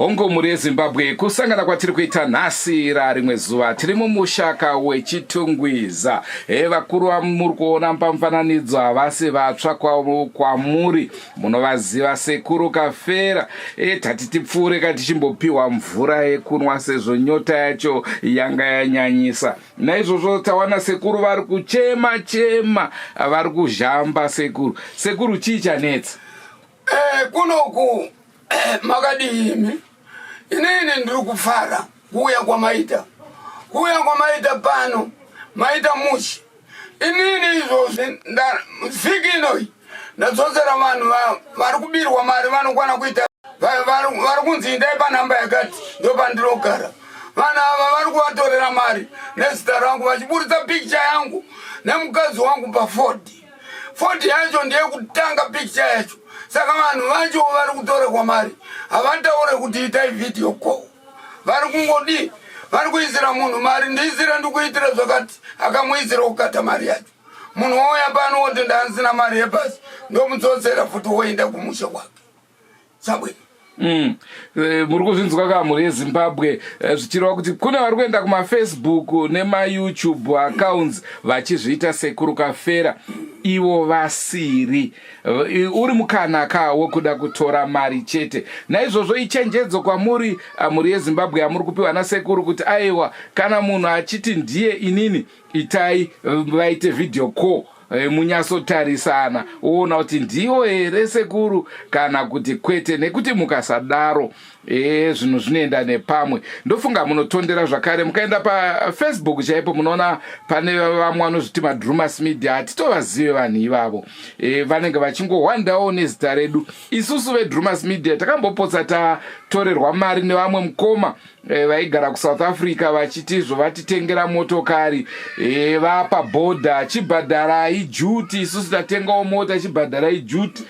hongu mhuri yezimbabwe kusangana kwatiri kuita nhasi rarimwe zuva tiri mumushaka wechitungwiza he vakuru vamuri kuona pamfananidzo havasi vatsva kwamuri munovaziva sekuru kafera e tati tipfuure ka tichimbopiwa mvura yekunwa sezvo nyota yacho yanga yanyanyisa naizvozvo tawana sekuru vari kuchema chema vari kuzhamba sekuru sekuru chii chanetsa eh, kunoku makadii imi inini ndiri kufara kuuya kwamaita kuuya kwamaita pano maita mushi inini izvozvi vhiki inoyi ndadzodzera vanhu vari kubirwa mari vanokwana kuita vari kunzi indai panhamba yakati ndo pandinogara vanhu ava vari kuvatorera mari nezita rangu vachiburitsa pikicha yangu nemukadzi wangu pafodhi foti yacho ndeyekutanga picture yacho saka vanhu vacho vari kutorekwa mari havataure kuti itai vhidhiyo ko vari kungodii vari kuisira munhu mari ndiisira ndikuitira zvakati akamuisira kukata mari yacho munhu wouya pano woti ndaanzina mari yepasi ndomudzodzera futi woenda kumusha kwake Zimbabwe. Mm. Eh, muri kuzvinzwa ka mhuri yezimbabwe eh, zvichireva kuti kune vari kuenda kumafacebook nemayoutube accounts vachizviita sekuru kafera ivo vasiri eh, uri mukana ka wekuda kutora mari chete naizvozvo ichenjedzo kwamuri mhuri yezimbabwe yamuri kupiwa nasekuru kuti aiwa kana munhu achiti ndiye inini itai vaite video call eh, munyatsotarisana woona kuti ndiwo here sekuru kana kuti kwete nekuti mukasadaro e zvinhu zvinoenda nepamwe ndofunga munotondera zvakare mukaenda pafacebook chaipo munoona pane vamwe vanozviti madrumas media hatitovazive vanhu ivavo e, vanenge vachingohwandawo nezita redu isusu vedrumas media takambopotsa tatorerwa mari nevamwe mukoma Eh, vaigara kusouth africa vachiti zvovatitengera motokari eh, vapa bhodha chibhadharai juti isusu tatengawo mota chibhadharai juti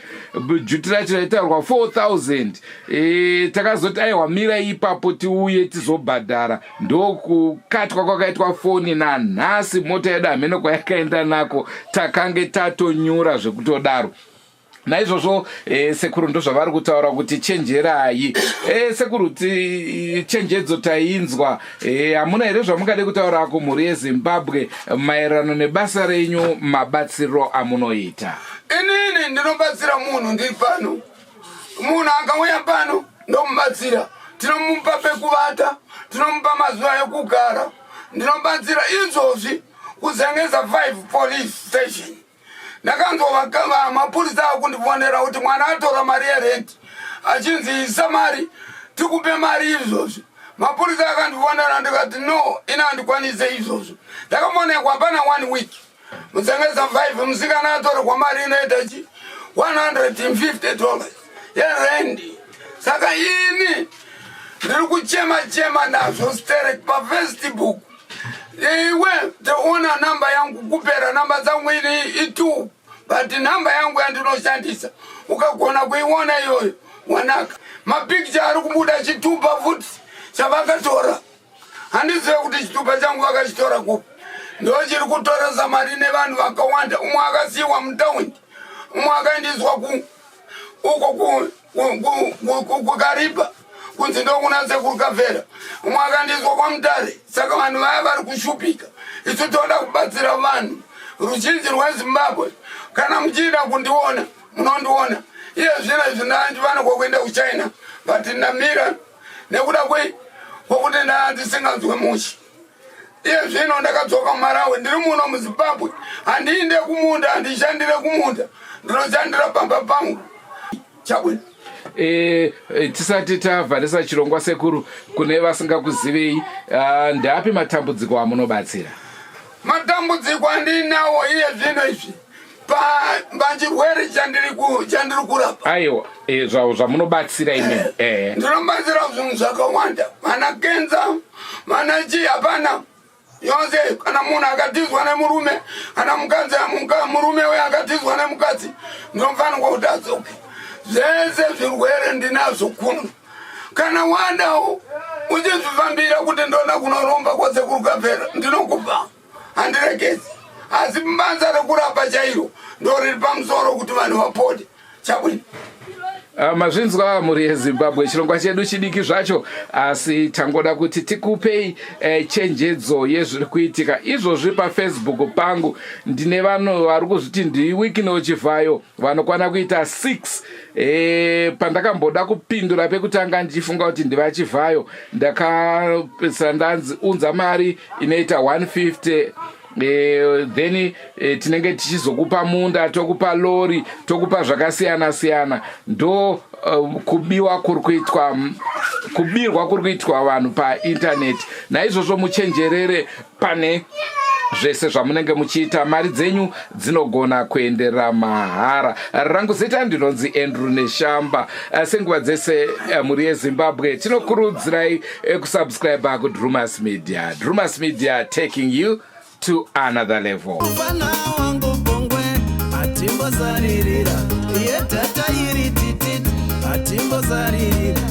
juti racho raitaurwa 4000 eh, takazoti aiwa mira ipapo tiuye tizobhadhara ndokukatwa kwakaitwa foni nanhasi mota yedu hameno kwayakaenda nako takange tatonyura zvekutodaro naizvozvo eh, sekuru ndozvavari kutaura kuti chenjerai eh, sekuru ti chenjedzo tainzwa eh, hamuna here zvamungade kutaura kumhuri yezimbabwe maererano nebasa renyu mabatsiro amunoita inini ndinobatsira munhu ndiri pano munhu akauya pano ndomubatsira tinomupa pekuvata tinomupa mazuva ekugara ndinobatsira izvozvi kuzengeza 5 police station ndakanzwa mapurisa akundifonera kuti mwana atora mari yerenti achinzi isa mari tikupe mari izvozvo mapurisa akandifonera ndikati no ini handikwanise izvozvo ndakafonekwa hapana one week musengesa 5 musikana atorerwa mari inoita chi 150 dollars yerendi saka ini ndiri kuchema chema nazvo sterek pafestibook iwe taona namba yangu kupera namba dzangu ini itu but namba yangu yandinoshandisa ukagona kuiona iyoyo wanaka mapicture ari kubuda chitupa futi chavakatora handizive kuti chitupa changu vakachitora kupi ndo chiri kutoresa mari nevanhu vakawanda umwe akasiyiwa mutaundi umwe akaendiswa ku uko kukaripa kunzi ndokuna sekuru kavhera umwe akandiswa kwamutare saka vanhu vaya vari kushupika isu toda kubatsira vanhu ruzhinji rwezimbabwe kana muchiida kundiona munondiona iye zvino izvi ndandifanirwa kuenda kuchina but ndamira nekuda kwei kwokuti ndandisinganzwe mushi iye zvino ndakadzoka kumarawi ndiri muno muzimbabwe handiinde kumunda handishandire kumunda ndinoshandira pamba pangu chabwino E, e, tisati tavharisa chirongwa sekuru kune vasingakuzivei ah, ndeapi matambudziko amunobatsira matambudziko andinawo iye zvino izvi pachirwere chandiri kurapa aiwa e, zvamunobatsira imi eh, eh. ndinobatsira zvinhu zvakawanda vana kenza vana chii hapana yonse kana munhu akatizwa nemurume kana mukadzi murume uye akatizwa nemukadzi ndinofanirwa kuti adzoke zvese zvirwere ndinazvo kuno kana wandawo uchizvifambira kuti ndoda kunoromba kwose kuri kukapera ndinokupa handiregedzi asi banza rekurapa chairo ndoriri pamusoro kuti vanhu vapote chabwini Ah, mazvinzwa mhuri yezimbabwe chirongwa chedu chidiki zvacho asi tangoda kuti tikupei eh, chenjedzo yezviri kuitika izvozvi pafacebook pangu ndine vanhu vari kuzviti ndiwikino chivhayo vanokwana kuita six e, pandakamboda kupindura pekutanga ndichifunga kuti ndivachivhayo ndakapedzisa ndanzi unza mari inoita 150 Eh, then eh, tinenge tichizokupa munda tokupa lori tokupa zvakasiyana siyana ndo eh, kubiwa kuri kuitwa kubirwa kuri kuitwa vanhu paintaneti naizvozvo muchenjerere pane zvese zvamunenge muchiita mari dzenyu dzinogona kuendera mahara rangu zita ndinonzi andrew neshamba eh, senguva dzese eh, mhuri yezimbabwe tinokurudzirai eh, kusubscribe kudrumas media drumas media taking you to another level Timbo zaririra, ye tata iri titit, atimbo zaririra.